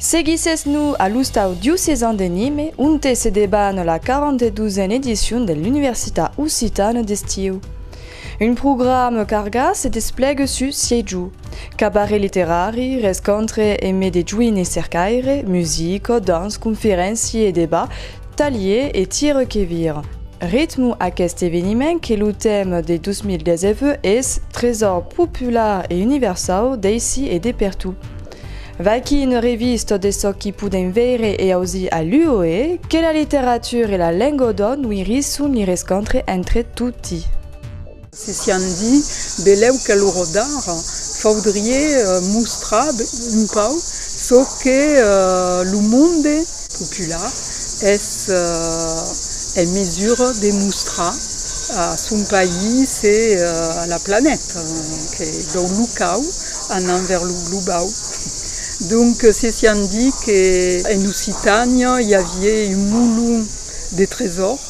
Seguissètz-nos a l'ostau diocesan de Nîmes, onte se deban la 42a edicion de l'Universitat Occitane d'Estiu. Un programa cargat se desplègue sus 6 jorns, cabaret literari, rescontre emé de joines cercaires, musica, danç, conferéncia e debat Talhie e tire que vir. Ritmo aqueste eveniment que lo tèma de 2019 es Tresor popular e universau d'aicí e de pertot. V'aquí una revista de çò qu'i podèm veire e ausir a l'UOE, que la literatura e la lenga o dòn ui risson li rescontre entre toti. Se sián dit, belèu que lo rodar faudrie mostrar un pauc çò que lo monde popular es en mesura de mostrar a son país e a la planeta, que dau locau anam vers lo globau. Donc se sián dit que en Occitània i avié un molon de tresor.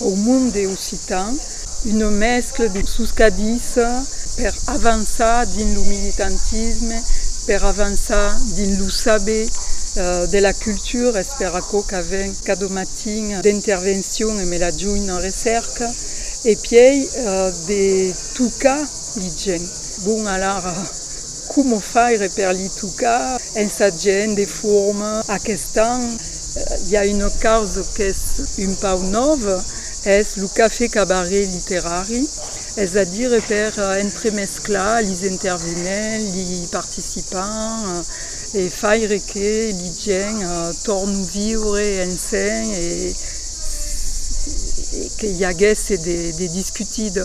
Au monde occitan, una mescla de soscadissa per avançar dins lo militantisme, per avançar dins lo saber de la cultura, es per aquò qu'a ven cada matin d'intervencion e me la junh en recèrca, e pièi de tocar li gents. Bon alara, Coma faire per li tocar? Es a gent de forma. Aquest an i a una causa qu'es un pauc nòva, es lo cafè cabaret literari, es a dire per entremesclar li intervenents, li participants e faire que li gent tornu viure ensenh e que i aguèsse de discutida.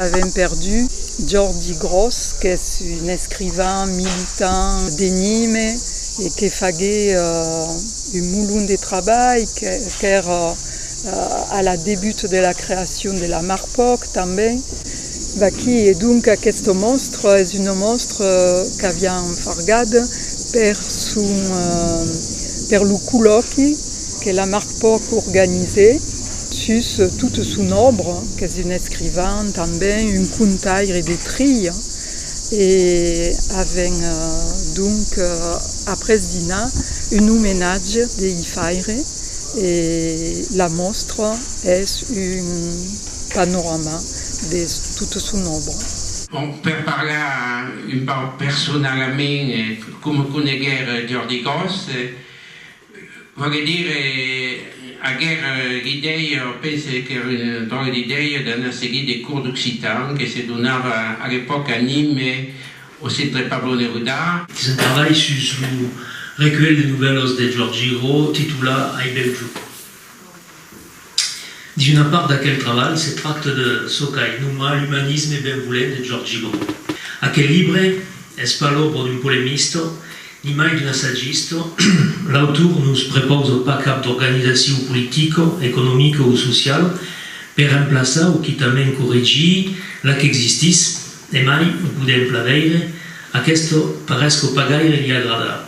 Avèm perdut Jordi Gròs qu'es un escrivan, militant, d'Enime e que fagué un molon de trabalh, qu'èr a la debut de la creacion de la Marpòc tanben. Vaquí, e donc aquest monstre es un monstre qu'avián fargat per son per lo collòqui que la Marpòc organizé. Sus tota son òbra, qu'es un escrivan tanben un contaire de trilha e avèm donc après dinar un omenatge de i faire e la mòstra es un panorama de tota son òbra. Bon, per parlar un pauc personalament, com coneguèr Jordi Gros? Vòle dire ager d'idèia, o pense qu'ère un dròlle d'idèia d'anar seguir de cours d'occitan que se donava a l'epòca a Nîmes, au Centre Pablo Neruda. Dins un trabalh sus lo recuelh de novèlas de Georges Giraud titulat Ai bèu jo. D'una part d'aquel trabalh se tracta de çò qu'ai nomat l'umanisme benvolent de Giorgi Bru. Aquel libre es pas l'òbra d'un polemista, nimai d'un assagista, l'autor nos prepausa pas cap d'organizacion politica, economica o sociala per emplaçar o quitament corregir la qu'existís, emai o podèm plan veire, aquesta paresca pas gaire li agradar.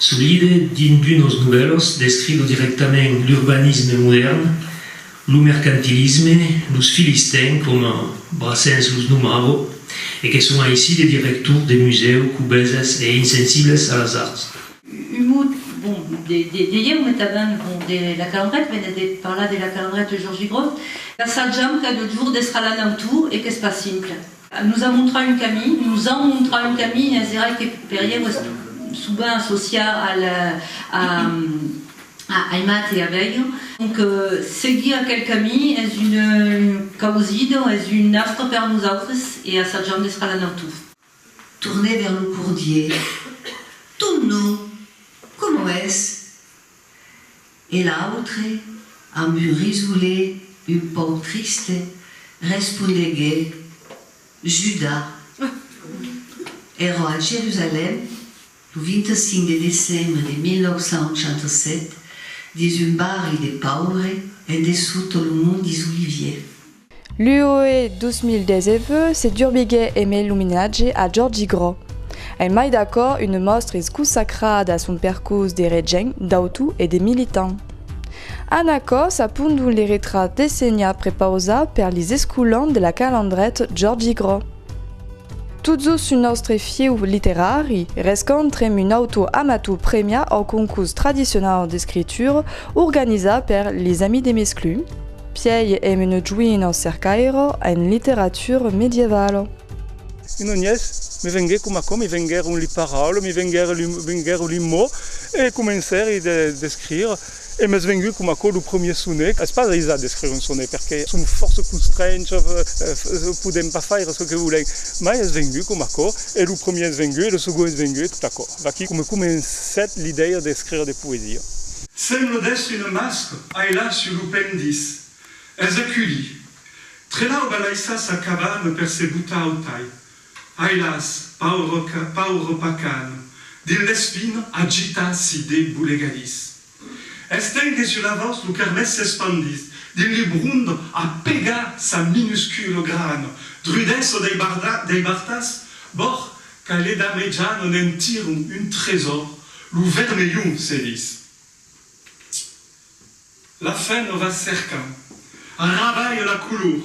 Solide dins d'unos novèlos descriu dirèctament l'urbanisme modèrn, lo mercantilisme, los filistèns coma Brassens los nomava, e que son aicí de directors de musèu cobeses e insensibles a las arts. Un mot, bon, de ieu metavent, bon, de La Calandreta, venèt de parlar de La Calandreta, Jorgi Groth. Assajam cada jorn d'estar l'an autor e qu'es pas simple. Nos a montrar un camin, nos an montrar un camin, es verai que per ieu es subent associat al a aimat e a velho, donc seguir aquel camin es una causida, es un astre per nosautres e assajam d'estar la nautur. Torner vers lo cordier. Ton nom, comment es? E l'autre, amb un risolé un pauc triste, respondegué, Judà. Ero a Jerusalèm, lo 25 de decembre de 1987, dins un barri de pauvre en dessús tot lo mont dis Oliviers. L'UOE 2010 EVE se durbiguèt e mai l'omenatge a Jordi Grau. Ai mai d'aquò una mòstra es consacrada a son percors de regent, d'autor e de militant. En aquò s'apondon les retrats d'Essenha prepausats per les escolans de la Calandret Jordi Grau. Tot jos sul nòstre fieu literari, rescontrem un autor amator premiat au concors tradicionau d'escritura organizat per Les Amis de Mesclun, Pièi èm un joinho cercaire en literatura medievala. Un onhés me venguè coma aquò, me venguèron li paraules, me venguèron li mots e comencèri d'escrire e m'es vengut coma aquò lo premier sonet. Es pas aisat d'escrire un sonet perque som fòrça constrenchs, podèm pas faire çò que volèm, mai es vengut coma aquò e lo premier es vengut e lo segond es vengut e tot aquò. Vaquí coma comencèt l'idèia d'escrire de poesia. Semble d'èstre une masque ailà sur lo pendis. Es aculí. Trelau va laissar sa cabana per se botar au tai. Ailàs, paure, paure pacan, dins l'espina agita si de bolegadís. Estengue sur la vòs lo carmès s'espandís dins li brond a pegar sa minuscule grana. Drudèssa dei bartas, bòr Qu'alet a mejan on en tiron un tresor, lo vermelhon se dis. La fen o va cercar. Arrabalh la color,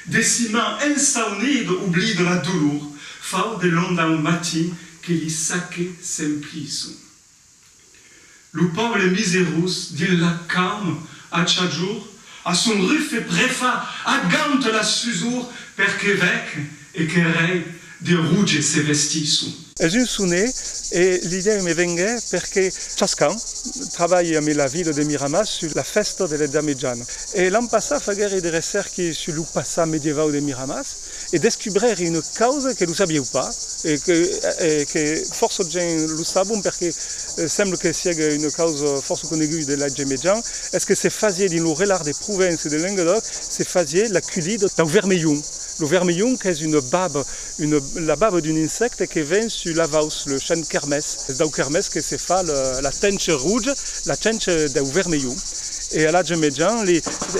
decima ensaunid oblid la dolor, fau de l'onda un matin que li saque s'emplison. Lo pòble miserós dins la caum a chajor a son rufe prefa agant la susor per que vec e que rei de ruge se vestisson. Es un sonet e l'idèu me venguèt per que chascan trabalhe amé la vila de Miramas sus la fèsta de l'Edat Mejana. E l'an passat faguère de recèrques sus lo passat medievau de Miramas. e descubrèri una causa que lo sabieu pas e que fòrça gents lo sabon perque sembla que sièga una causa fòrça coneguda de l'atge mejan, es que se fasié dins lo relat de Provença e de Lengadòc, se fasié la culida dau vermelhon. Lo vermelhon qu'es una baba, la baba d'un insècte que ven sus l'avaus, le chanh kermés. Es dau kermés que se fa la tencha roja, la tencha dau vermelhon. E a l'atge mejan,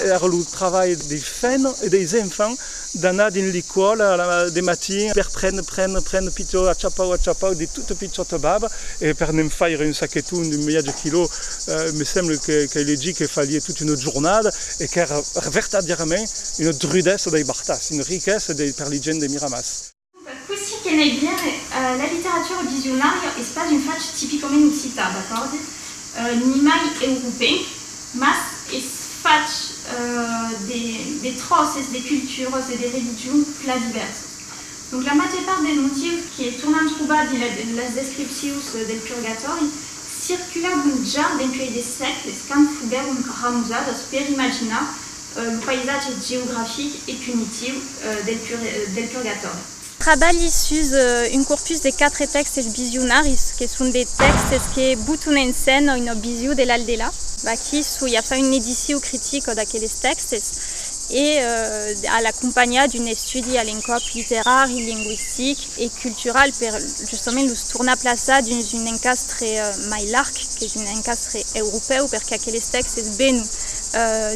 era lo travalh dei fèns e deis enfants D'anar dins l'ecòla de matin per prendre, prendre, prendre pichò, achapau, achapau, de tota pichòta baba, e per ne'n faire un saqueton d'un miatge quilò, me semble qu'ai legit que falie tota una jornada e qu'èra vertadièrament una drudessa dei bartas, una riquessa per li gents de Miramàs. Cossí que n'ei bien, la literatura audisionària es pas un fach tipicament occitan, d'acòrdi, nimai europenc, mas es fach de tròces de culturas e de religions plan divèrsas. Donc la màger part dels motius que tornam trobar dins las descripcions del purgatòri circulavon ja dempuèi de sègles quand foguèron ramusadas per imaginar Lo païsatge geografic e punitiu del purgatòri. Trabalhi sus un corpus de quatre tèxtes visionaris, que son de tèxtes que butun en scèna una vision de l'au-delà. Aquí soi a far una edicion critica d'aqueles tèxtes e a l'acompanhar d'un estudi a l'encòp literari, lingüistic, e cultural per justament los tornar plaçar dins un encastre mai larg qu'es un encastre europèu perque aqueles tèxtes vènon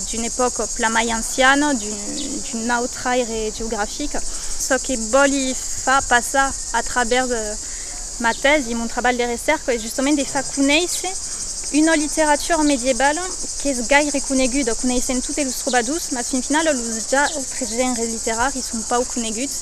d'una epòca plan mai anciana, d'un autre aire geografic. Çò que vòli far passar a travèrs ma tèsi e mon trabalh de recèrca es justament de far conéisser una literatura medievala qu'es gaire coneguda, coneissèm totes los trobadors, mas fin finala los autres genres literaris son pauc coneguts,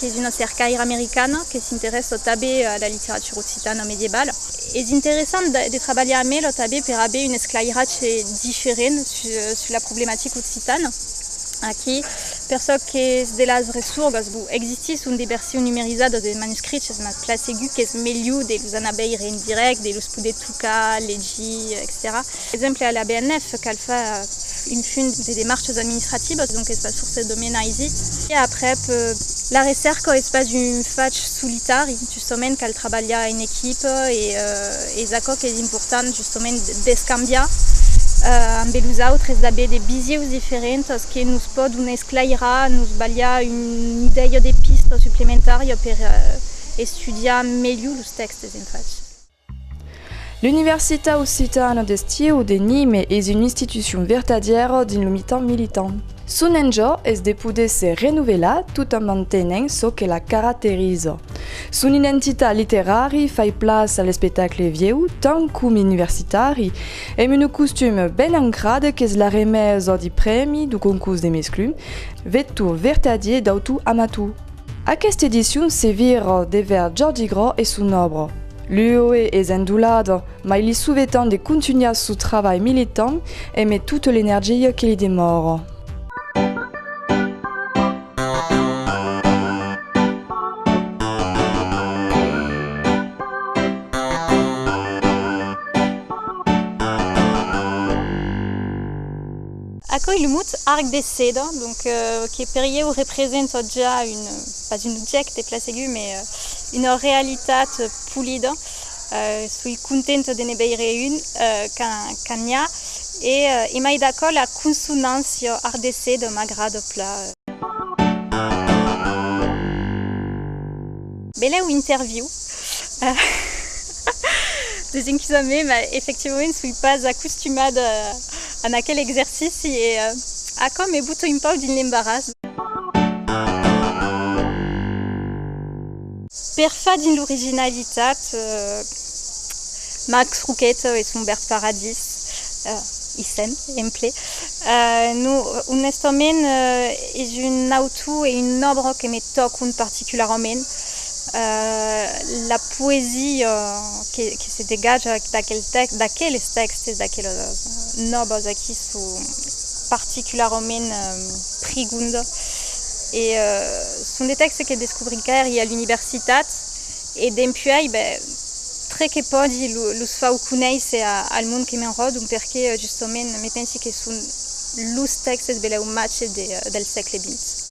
Es una cercaira americana que s'interessa tanben a la literatura occitana medievala. Es interessant de trabalhar amb ela tanben per aver un esclairatge diferent sus la problematica occitana. Aquí, per çò qu'es de las ressurgas, bon, existisson de versions numerizada de manuscriches, mas plan segur qu'es melhor de los anar veire en dirèct, de los poder tocar, legir, etcetèra. Exemple, a la BNF cal far un funt de demarches administrativas, donc es pas forçat de menar aisit. E aprèp, la recèrca es pas un fach solitari, justament cal trabalhar en equipa e es aquò qu'es important, justament d'escambiar ambe los autres, d'aver de visieus diferentas que nos pòdon esclairar, nos balhar una idèia de pista suplementària per estudiar melhor los tèxtes en fach. L'Universitat occitana d'estiu de Nîmes es una institucion vertadièra dins lo mitan militant. Son enjò es de poder se renovelar tot en mantenent çò que la caracteriza. Son identitat literari fai plaç a l'espectacle vieu tant coma universitari, amb una costuma ben ancrada qu'es la remesa de prèmi du concors de mesclun, vector vertadier d'autor-amator. Aquesta edicion se vir devèr Jordi Grau e son òbra. L'UOE es endolada, mai li sovetan de contunhar sou travalh militant e met tota l'energia que li demòra. Aquoi lo mot arc de seda, donc, que per ieu representa ja un, pas un objècte plasegut, mai una realitat polida, soi contenta de ne veire un quand n'i a, e emai d'aquò la consonància arc de seda m'agrada plan. Belèu interviu des enquisa me mas efectivament soi pas acostumada a aquel exercici e aquò me boto un pauc dins l'embaràs. Per far dins l'originalitat. Max Roquette e son bèrt paradís, Isen, emple. No, onestament, es un autor e un òbra que me tòcon particularament. La poesia que se degatja d'aqueles tèxtes, d'aquelas nòbas aquí, çò particularament prigonda. E son de tèxtes que descobric eri a l'universitat. E dempuèi, ben, tre que pòdi, los fau conéisser al mond que m'enròdon, perque, justament, me pensi que son los tèxtes belèu matge del sègle vint.